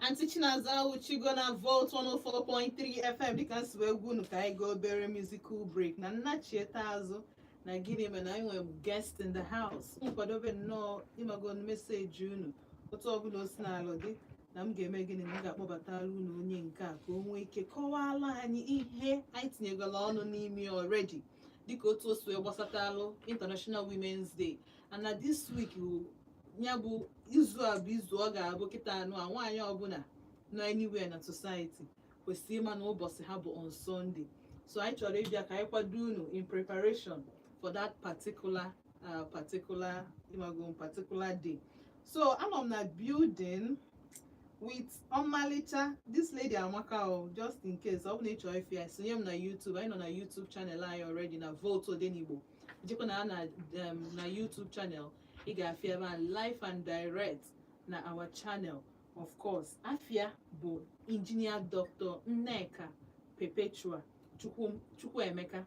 Aunty Chinaza Uchigo na Vote 104.3 FM dịka nsi wee gwa unu ka anyị gaa obere musical break na nna chieta azụ na gịnị mere na anyị nwere guest in the house nkwadobe nnọọ ịmago meseji unu otu ọbụla o sinalụ dị na m ga-eme gịnị na m ga-akpọbatara unu onye nke a ka o nwee ike kọwaala anyị ihe anyị tinyegola ọnụ n'ime already dịka otu o si wee gbasatalụ International Women's Day ana this week ya bụ izu a bụ izu ọ ga-abụ kịta anụ a nwaanyị ọbụla nọ anywhere na society kwesịrị ịma na ụbọchị ha bụ on Sunday so anyị chọrọ ịbịa ka anyị kwado unu in preparation for that particular uh, particular imago particular day so anọ m na building with ọmalịcha this lady amaka o just in case ọ bụ na ị chọrọ ịfụ ya sonye m na YouTube anyị nọ na YouTube channel anyị already na Vote Odenigbo jekwa na na um, na YouTube channel ị ga-afụ ya ebe a live and direct na our channel of course afa ya bụ injinia dr nneka perpetua chukwuemeka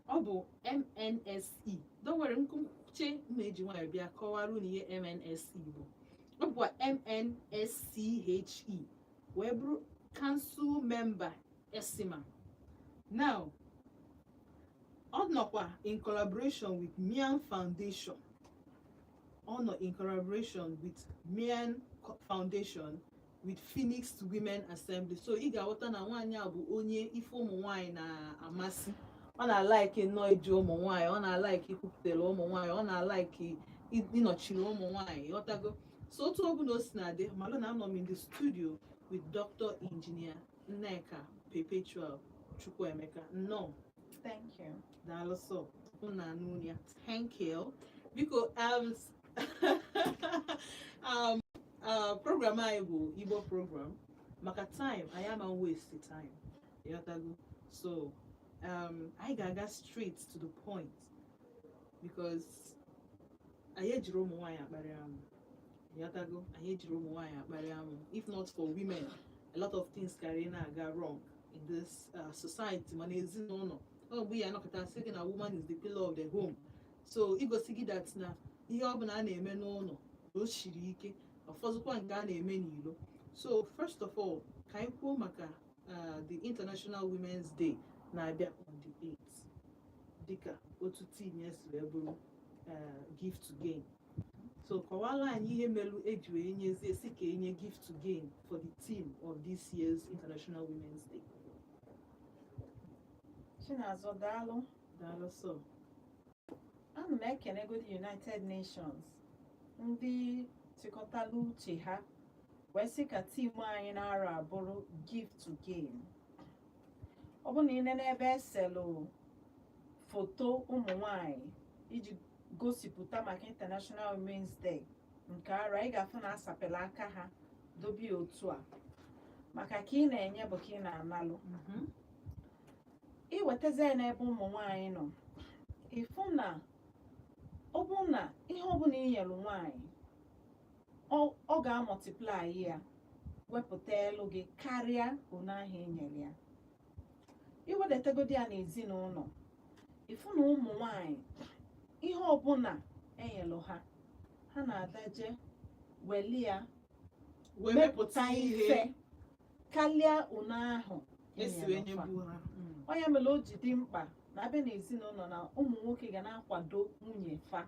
ọ bụ mnse don't worry m kwuchaa m eji nwayọ bịa kọwara unu ihe mnse bụ ọ bụkwa mnsche wee bụrụ kansụl memba esima now ọ nọkwa in collaboration with Mian Foundation ọ nọ in collaboration with Mian Foundation with Phoenix Women Assembly so ị ga-aghọta na nwaanyị a bụ onye ife ụmụ nwaanyị na-amasị ọ na-alaiki nnọọ iji ụmụ nwaanyị ọ na-alaiki ikwupụtara ụmụ nwaanyị ọ na-alaiki ịnọchiri ụmụ nwaanyị ị ghọtago so otu ọ bụla o sina dị malụ na anọ m in the studio with Dr. Engineer Nneka Perpetual Chukwuemeka nnọọ thank you daalụ sọ unu anụ unu ya thank you biko um, um, uh, program anyị bụ Igbo program maka time anyị ama waste time ị ghọtago so um, anyị ga-aga straight to the point because anyị ejiro ụmụ nwaanyị akparị amụ ị ghọtago anyị ejiro ụmụ nwaanyị akparị amụ if not for women a lot of things karị na-aga wrong in this uh, society ma n'ezinụlọ ọ bụ ya a nọkata sị gị na woman is the pillar of the home so igosi gị that na ihe ọbụla a na-eme n'ụlọ na o siri ike ọfọzụkwa nke a na-eme n'ilo so first of all ka anyị kwuo maka uh, the international women's day na-abịa on the 8th dịka otu theme ya si wee bụrụ uh, give to gain so kọwala anyị ihe melu eji wee nyezie sị ka enye give to gain for the theme of this year's international women's day Chinazọ daalụ daalụ sọ ana m ekenegodi United Nations ndị chịkọtala uche ha wee sị ka theme anyị n'arọ a bụrụ give to gain ọ bụrụ na ị nene ebe eselụ foto ụmụ nwanyị iji gosipụta maka International Women's Day nke arọ a ị ga-afụ na asapela aka ha dobe otu a maka ka ị na-enye bụ ka ị na-analụ mhm. iwetazi ya n'ebe ụmụ nwanyị nọ ịfụ na ọ bụ na ihe ọbụla inyelu nwanyị ọ ga-amultiply ya wepụtalụ gị karịa one ahụ i nyere ya iwedatagodi ya n'ezinụlọ ịfụ na ụmụ nwanyị ihe ọbụla enyelụ ha ha na-adaje weli ya wepụta ihe karịa one ahụ e si wee nye ha mm. ọ nya mere o ji dị mkpa na abịa n'ezinụlọ na ụmụ nwoke ga na-akwado nwunye fa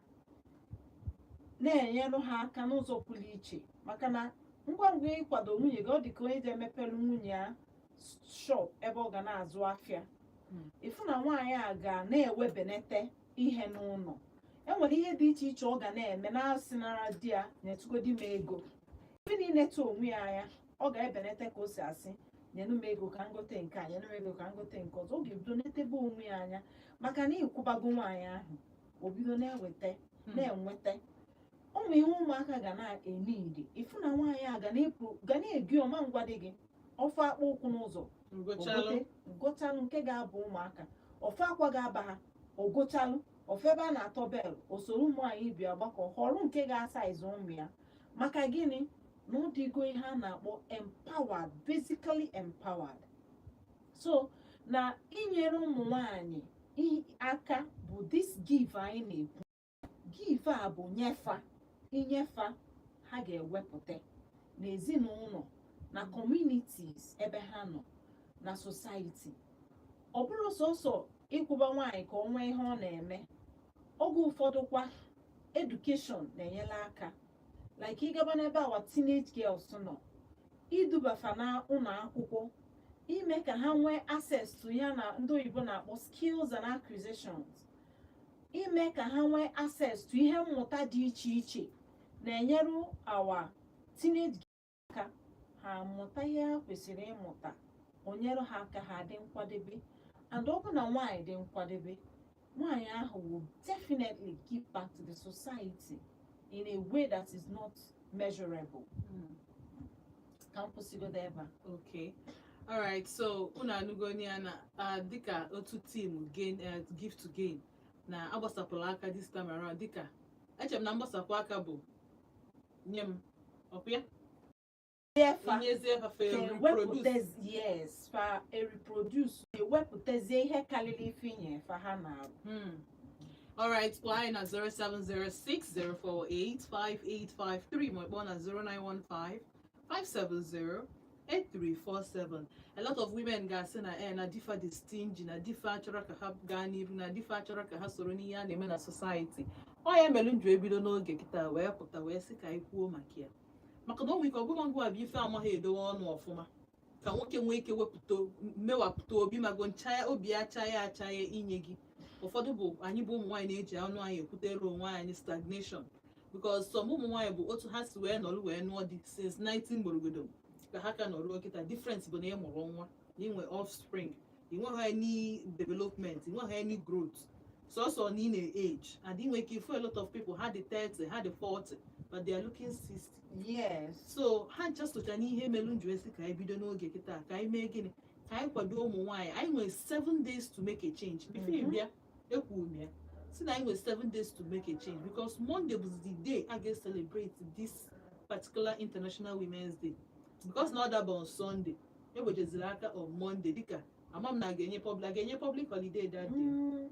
na-enyelụ ha aka n'ụzọ pụrụ iche maka na ngwa ngwa ịkwado nwunye gị ọ dị ka onye ji emepelu nwunye ya shop ebe ọ ga na-azụ afịa Mm. ịfụ na nwaanyị a ga na-ewebenete ihe n'ụlọ enwere ihe dị iche iche ọ ga na-eme na-asịnara di ya nyetụgodi m ego ebe ọ na-eneta onwe ya anya ọ ga-ebenete ka o si asị nyenụ m ego ka m gote nke a nyenụ m ego ka m gote nke ọzọ ọ ga-ebido netebe onwe ya anya maka na ịkwụbago nwaanyị ahụ o bido na-eweta hmm. na-enweta ụmụ ihe ụmụaka ga na-eme idi ịfụ na nwaanyị a ga na-eje ọ ma na-agwadị gị ọ fụ akpụ ụkwụ n'ụzọ o gochalụ nke ga-aba ụmụaka ọ fụ akwa ga-aba ha o gochalụ ọ fụ ebe a na-atọ bale o soro ụmụ nwanyị ibe ya gbakọ họrọ nke ga-asize ụmụ ya maka gịnị na ọ dịgo ihe a na-akpọ empowered basically empowered so na inyere ụmụ nwanyị aka bụ this give anyị na-ekwu give a bụ nye fa i nye fa ha ga-ewepụta n'ezinụlọ na communities ebe ha nọ na society ọ bụrọ sọsọ ịkwụba nwaanyị ka o nwee ihe ọ na-eme oge ụfọdụ kwa education na-enyere aka like ịgaba n'ebe our teenage girls nọ iduba fa na ụlọ akwụkwọ ime ka ha nwee access to ya na ndị oyibo na-akpọ skills and acquisitions ime ka ha nwee access to ihe mmụta dị iche iche na-enyere our teenage aka ha mụta ihe ha kwesịrị ịmụta o nyere ha aka ha dị nkwadebe and ọ bụ na nwaanyị dị nkwadebe nwaanyị ahụ will definitely give back to the society in a way that is not measurable hmm. ka m kwụsịgodo ebe a okay alright so unu anụgonụ ya na dịka otu theme gain eh, give to gain na agbasapụla aka this time around dịka echere m na mgbasapụ aka bụ nye m ọkwa ya Efa inyezie efa fa reproduce ewepụtazi yes fa e-reproduce ewepụtazie ihe karịrị ife i nye fa ha na-arụ Hmm. All right, kpọọ anyị na 0706-048-5853 ma ị kpọọ na 0915-570-0 8347 a lot of women ga-asị na e na di fa dị stingy na di fa achọrọ ka ha gaa n'iru na di fa achọrọ ka ha soro n'ihe a na-eme na society ọ ya mere m ji ebido n'oge kịta wee pụta wee sị ka anyị kwuo maka ya maka na o nwere ike ọ bụ gịnwa bụ ife amaghị edowe ọnụ ọfụma ka nwoke nwee ike wepụta mewapụta obi mago ncha obi achaghị achaghị inye gị ụfọdụ bụ anyị bụ ụmụ nwaanyị na-eji ọnụ anyị ekwutere onwe anyị stagnation because some ụmụ nwaanyị bụ otu ha si wee nọrọ wee nụọ di since 19 gborogodo ka ha ka nọrọ kịta difference bụ na ị mụrụ nwa na i nwe offspring i nweghị any development i nweghị any growth sọsọ na ị na-age and i nwe ike ịfụ a lot of people ha dị 30 ha dị 40 but they are looking 60 yes so ha ncha socha n'ihe melu m ji asị ka anyị bido n'oge kịta ka anyị mee gịnị ka anyị kwado ụmụ nwaanyị anyị nwere seven days to make a change before ị bịa ekwuru m ya sị na anyị nwere seven days to make a change because monday bụ the day a ga-celebrate this particular international women's day because na ọ daba on sunday ewejeziri aka on monday dịka ama m na a ga-enye public a ga-enye public holiday that day Mm,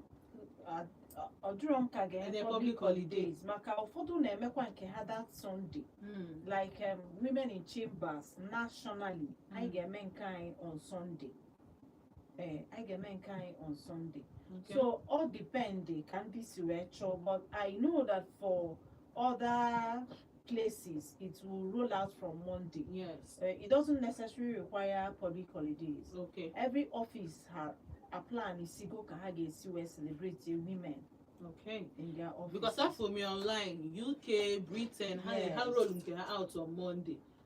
a- a- ọ dịrọ m ka a ga-enye Enye public public holiday. holidays maka ụfọdụ na-emekwa nke ha that sunday Mm. like um, women in chambers nationally anyị Mm. ga-eme nke anyị on sunday ee anyị ga-eme nke anyị on Sunday Okay. so all depend ka ndị si wee chọọ but I know that for other places it will roll out from Monday yes. uh, it doesn't necessarily require public holidays Okay. every office ha a-plansigo ka ha ga-esi wee celebrate the women Okay. in their office Because afụ m online, UK, Britain, ha Yes. ha roll nke ha out on Monday.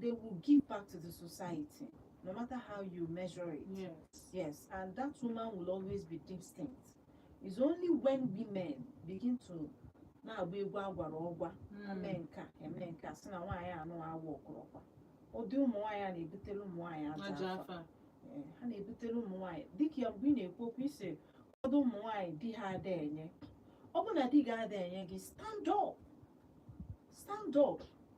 they will give back to the society no matter how you measure it Yes. Yes, and that woman will always be distinct. It's only when women begin to na-agba egwu agwara ọgwa eme Mm. nka eme nka sị na nwaanyị anụ awụ ọkụrụkwa ụdị ụmụ nwaanyị a na-ebutere ụmụ nwaanyị ajọ Ajọ afa afa. Ee, ha na-ebutere ụmụ nwaanyị dịka ya mgbe ị na-ekwu okwu ị sị ụfọdụ ụmụ nwaanyị di ha ada enye ọ bụ na di gị ada enye gị stand up stand up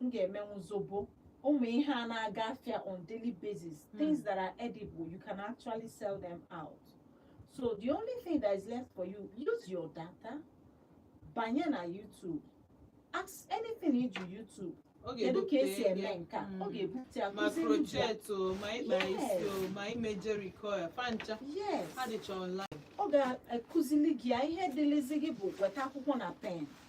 m ga-emenwu zobo ụmụ ihe a na-aga afịa on daily basis hmm. things that are edible you can actually sell them out so the only thing that is left for you use your data banye na YouTube ask anything ị jụọ YouTube kedu ka e si eme nke a ọ ga-ebute ya ma crochet o ma ịkpa isi o ma ime jheri curl fa ncha ha dịcha online ọ ga-akuzili gị ya ihe dịlịzi gị bụ weta akwụkwọ na pen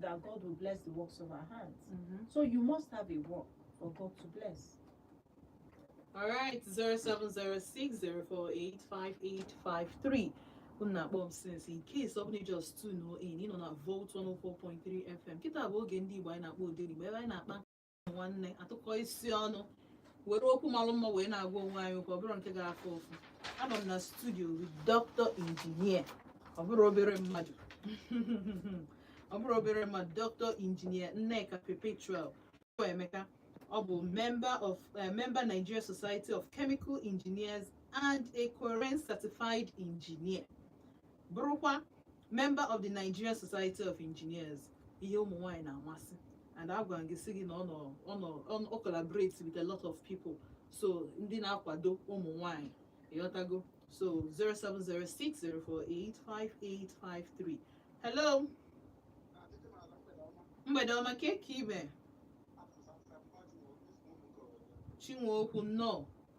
that God will bless the works of our hands. Mhm. So you must have a work for God to bless. All right, 0706-048-5853. Unu na-akpọ m since in case ọ bụlụ na ị just tune in, ị nọ na Volt 104.3 FM. Kịta bụ oge ndị Igbo anyị na-akpọ Odenigbo ebe anyị na-akpa nwanne atụkọ isi ọnụ were okwu malụ mma wee na-agwa onwe anyị okwu ọ bụrọ nke ga-afụ ụfụ anọ m na studio with doctor engineer ọ bụrọ obere mmadụ ọ bụrọ obere mmadụ doctor engineer nneka perpetual emeka ọ bụ member of uh, member nigeria society of chemical engineers and a COREN certified engineer bụrụkwa member of the Nigerian Society of Engineers ihe ụmụ nwaanyị na-amasị and agwara gị sị gị na ọ nọ ọ nọ ọ nọ- ọ collaborate with a lot of people so ndị na-akwado ụmụ nwaanyị ị ghọtago so 07060485853 hello mgbede ọma kee ka ị me chinweokwu nnọọ